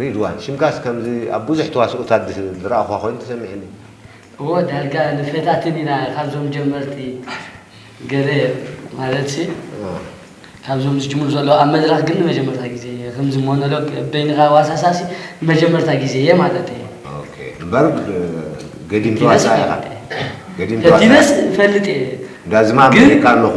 ሪድዋን ሽምካስ ከምዚ ኣብ ቡዙሕ ተዋስኦታት ዝረኣኹዋ ኮይኑ ተሰሚዕኒ። እዎ ዳርጋ ንፈታትን ኢና ካብዞም ጀመርቲ ገለ ማለትሲ ካብዞም ዝጅምሩ ዘለዉ ኣብ መድረኽ ግን ንመጀመርታ ግዜ እየ ከምዚ ሞኖሎግ በይንኻ ዋሳሳሲ ንመጀመርታ ግዜ እየ ማለተይ ኦኬ እምበር ገዲም ተዋሳኣይ ኢኻ ገዲም ተዋሳኣይ ፈቲነስ እፈልጥ እየ እንዳ ዝማም ሪኤካ ኣለኹ።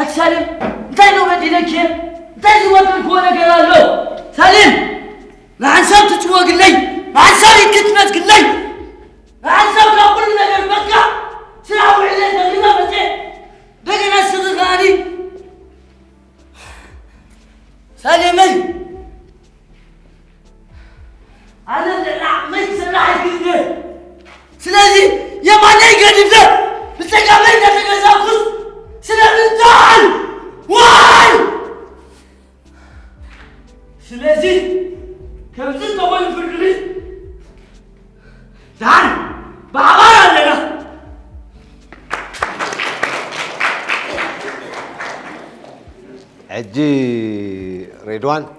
ኣቲ ሳሌም እንታይ ዶ በዲለኪ እንታይ ዝበደልክዎ ነገር ኣሎ ሳሌም ንሓንሳብ ትጭወግለይ ንሓንሳብ ይክትነት ግለይ ንሓንሳብ ካብ ኩሉ ነገር በቃ ስራሕ ውዕለ ዘሪባ መፀ እንደገና ስኺ ከኣኒ ሳሌመይ ኣነ ልዕሊ ዓቕመይ ክሰርሕ ኣይክእልን ስለዚ የማነይ ገዲፈ ብፀጋመይ እናተገዛእኩስ ስለምንታይ ዋይ ስለዚ ከምዚ እንተኾይኑ ፍርዲ ቤት ዳን ብሓባር ኣለና ሕጂ ሬድዋን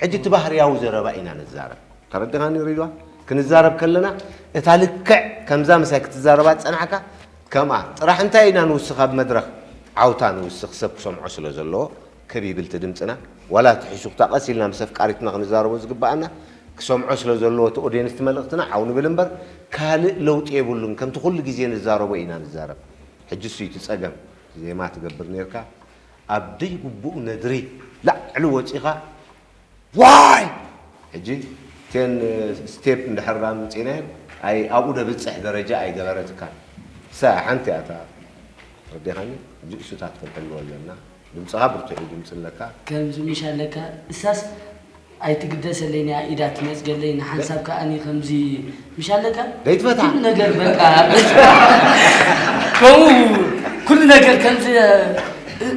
ሕጂ እቲ ባህርያዊ ዘረባ ኢና ንዛረብ። ተረዲኻኒ ሪድዋን? ክንዛረብ ከለና እታ ልክዕ ከምዛ ምሳይ ክትዛረባ ዝጸናሕካ ከምኣ ጥራሕ እንታይ ኢና ንውስኽ ኣብ መድረኽ ዓውታ ንውስኽ ሰብ ክሰምዖ ስለ ዘለዎ ክብ ይብል እቲ ድምጽና ዋላ እቲ ሕሹኽታ ቀስ ኢልና ምስ ኣፍቃሪትና ክንዛረቦ ዝግብኣና ክሰምዖ ስለ ዘለዎ እቲ ኦድየንስ እቲ መልእኽትና ዓው ንብል እምበር ካልእ ለውጢ የብሉን ከምቲ ኩሉ ግዜ ንዛረቦ ኢና ንዛረብ ሕጂ እሱ እዩ እቲ ጸገም ዜማ ትገብር ኔርካ ኣብ ደይግቡእ ነድሪ ላዕሊ ወጺኻ ዋይ ሕጂ ቴን ስቴፕ እንድሕር ኣምጺእናየን ኣይ ኣብኡ ደብጽሕ ደረጃ ኣይገበረትካን እሳ ሓንቲ እያ እታ ተረዲኻኒ ሕጂ እሱታት ክንሕልዎ ኣለና ድምጽኻ ብርቱዕ እዩ ድምጺ ኣለካ ከምዚ ምሽ ኣለካ እሳስ ኣይትግደሰለይ ናይ ኢዳ ትነጽገለይ ንሓንሳብ ከኣኒ ከምዚ ምሽ ኣለካ ለይትፈታ ኩሉ ነገር በቃ ከምኡ ኩሉ ነገር ከምዚ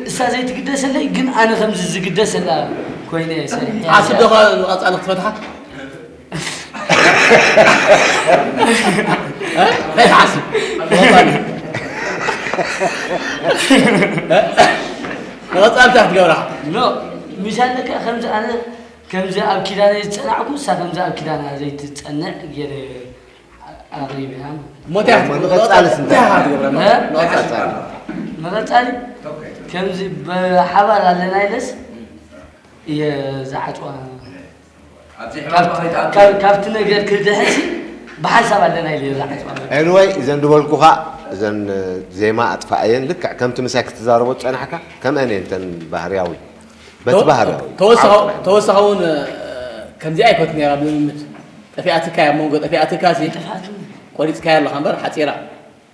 እሳ ዘይትግደሰለይ ግን ኣነ ከምዚ ዝግደሰላ ኮይነ ሰሪሐያ ዓስብ ዶ ቀጻሊ ክትፈትሓ ናይ ተሓስብ ንቐጻልታ ክትገብራ ኖ ምሳለካ ከምዚ ኣነ ከምዚ ኣብ ኪዳነ ዝጸናዕኩ እሳ ከምዚ ኣብ ኪዳና ዘይትጸንዕ ገይረ ኣቕሪብያ ሞትያ ንቐጻልስ እንታይ ክትገብራ ንቐጻሊ ንቐጻሊ ከምዚ ብሓባር ኣለና ኢለስ እየ ዝዓጽዋ ካብቲ ነገር ክድሕን ብሓንሳብ ኣለና ኢለ ኤኒወይ እዘን ዝበልኩኻ እዘን ዜማ ኣጥፋኣየን ልክዕ ከምቲ ምሳይ ክትዛረቦ ዝፀናሕካ ከምአን እየን እተን ባህርያዊ በቲ ባህርያዊ ተወሳኺ እውን ከምዚኣ ይፈት ነራ ብልምምድ ጠፊኣትካ ኣብ መንጎ ጠፊኣትካ ሲ ቆሪፅካያ ኣለኻ እምበር ሓፂራ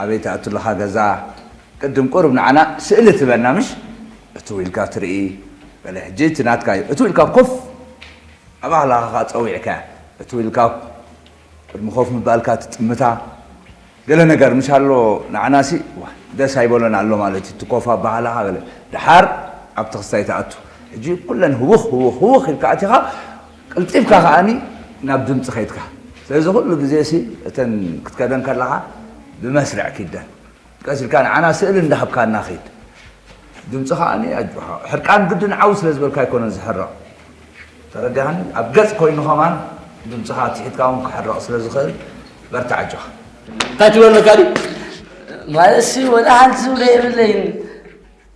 ኣበይ ትኣቱ ኣለኻ ገዛ ቅድም ቁሩብ ንዓና ስእሊ ትበና ምሽ እትው ኢልካ ትርኢ በለ ሕጂ እቲ ናትካ እዩ እትው ኢልካ ኮፍ ኣባህላኻ ከኣ ጸዊዕካያ እትው ኢልካ ቅድሚ ኮፍ ምባልካ ትጥምታ ገለ ነገር ምሽ ኣሎ ንዓናሲ ደስ ኣይበሎን ኣሎ ማለት እዩ ትኮፍ ኣባህላኻ ገለ ድሓር ኣብቲ ክስታይ ትኣቱ ሕጂ ኩለን ህውኽ ህውኽ ህውኽ ኢልካ ኣቲኻ ቅልጢፍካ ከኣ ናብ ድምጺ ከይድካ። ስለዚ ኩሉ ግዜሲ እተን ክትከደን ከለኻ ብመስርዕ ኪደን። ቀስ ኢልካ ንዓና ስእሊ እንዳሃብካና ኪድ። ድምጺ ከኣ ኣጆኻ። ሕርቃን ግድን ዓው ስለ ዝበልካ ኣይኮነን ዝሕረቕ። ተረዲኣኒ? ኣብ ገጽ ኮይኑ ከማን ድምጽኻ ኣትሒትካ ውን ክሕረቕ ስለ ዝኽእል በርትዕ ኣጆኻ። እንታይ ትብሎ ኣለካ ድዩ ማለትሲ ወላ ሓንቲ ዝብሎ የብለይን።